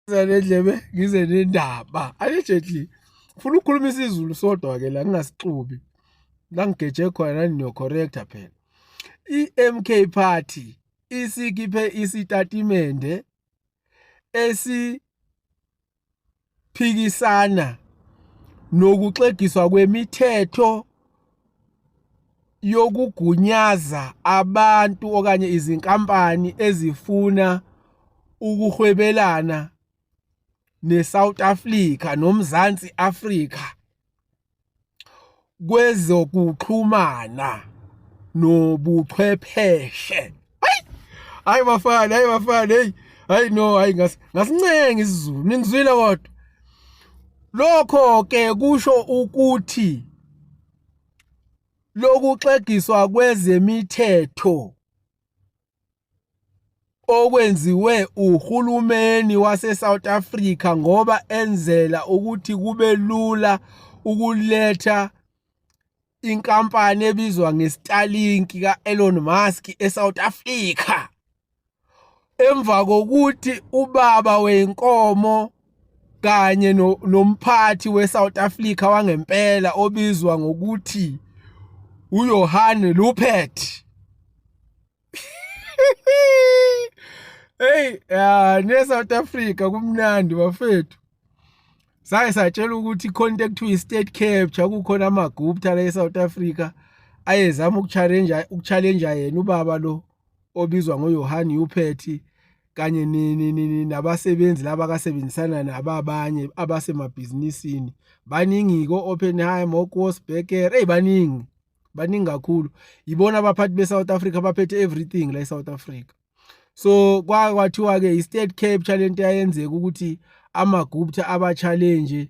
nendlebe ngize nendaba allegedly ufuna ukukhuluma isizulu sodwa ke la ngingasixubi la ngigeje khona nanino correcta phela i-MK party isikhiphe isitatimende esi phikisana nokuxegiswa kwemithetho yokugunyaza abantu okanye izinkampani ezifuna ukuhwebelana neSouth Africa noMzansi Africa kwezokuxhumana nobuchwepheshe hayi hayi bafana hayi bafana hey hayi no hayi ngasincenga isizulu ningizwile kodwa lokho ke kusho ukuthi lokuxegiswa kwezemithetho okwenziwe uhulumeni waseSouth Africa ngoba enzela ukuthi kube lula ukuletha inkampani ebizwa ngeStarlink ka-Elon Musk eSouth Africa emva kokuthi ubaba wenkomo kanye no, nomphathi weSouth Africa wangempela obizwa ngokuthi uJohan Lupet Hey, ah ne South Africa kumnandi bafethu. Saye satshela ukuthi contact to state capture kukhona amagupta la eSouth Africa ayezama ukuchallenge ukuchallenge yena ubaba lo obizwa ngoYohane Uphethi kanye nabasebenzi laba kasebenzisana nabo abanye abasemabhizinisini baningi ko-oppenheim okosbeker eyi baningi baningi kakhulu yibona abaphathi be-south africa baphethe everything la e-south africa so kwathiwa-ke i-state capture le nto yayenzeka ukuthi amagupta aba-challenge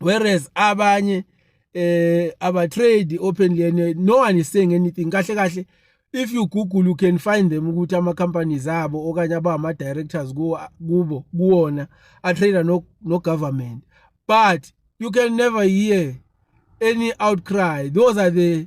whereas abanye eh aba trade openly and no one is saying anything kahle kahle if you google you can find them ukuthi ama companies abo okanye abama directors kubo kuwona a trader no no government but you can never hear any outcry those are the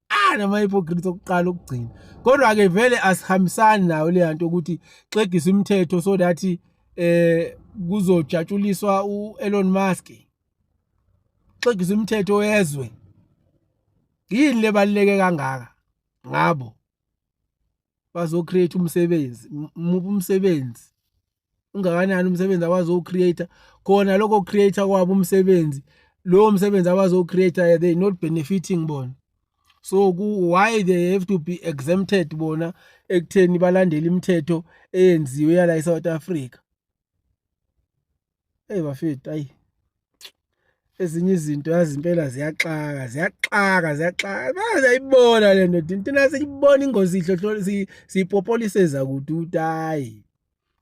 ah namahypocrite okuqala ukugcina kodwa ke vele asihambisani nayo le nto ukuthi xegisa imithetho so that eh kuzojatshuliswa uElon Musk xegisa imithetho yezwe yini lebaluleke kangaka ngabo bazo create umsebenzi muphi umsebenzi ungakanani umsebenzi abazowucreate khona lokho create kwabo umsebenzi lowo msebenzi abazowucreate they not benefiting bona so why they have to be exempted bona ekutheni balandele imithetho eyenziwe yala eSouth Africa hey bafethu ayi ezinye izinto yazi impela ziyaxaka ziyaxaka ziyaxaka bayayibona le nto thina siyibona ingozi ihlohlo siyipopoliseza kude ukuthi hayi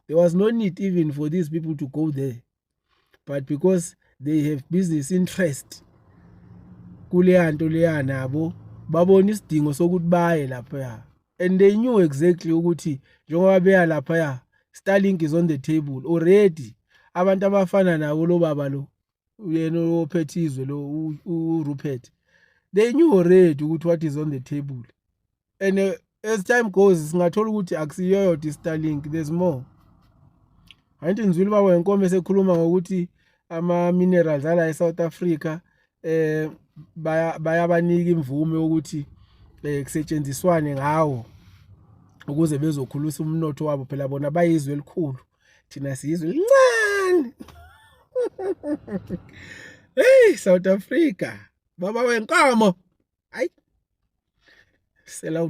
there was no need even for these people to go there but because they have business interest kuleya nto leya nabo babona isidingo sokuthi baye laphaya and they knew exactly ukuthi njengoba beya laphaya starlink is on the table already abantu abafana nabo lo baba lo uyena ophethe izwe lo uRupert they knew already ukuthi what is on the table and uh, as time goes singathola ukuthi akusiyo yodwa i-starlink there's more angithi ngizwile ubaba wenkomo esekhuluma ngokuthi ama-minerals ala e-south africa eh bayabanika imvume yokuthi eh, kusetshenziswane ngawo ukuze bezokhulisa umnotho wabo phela bona bayizwe elikhulu thina sizwe lincane hey South Africa baba wenkomo ayi sela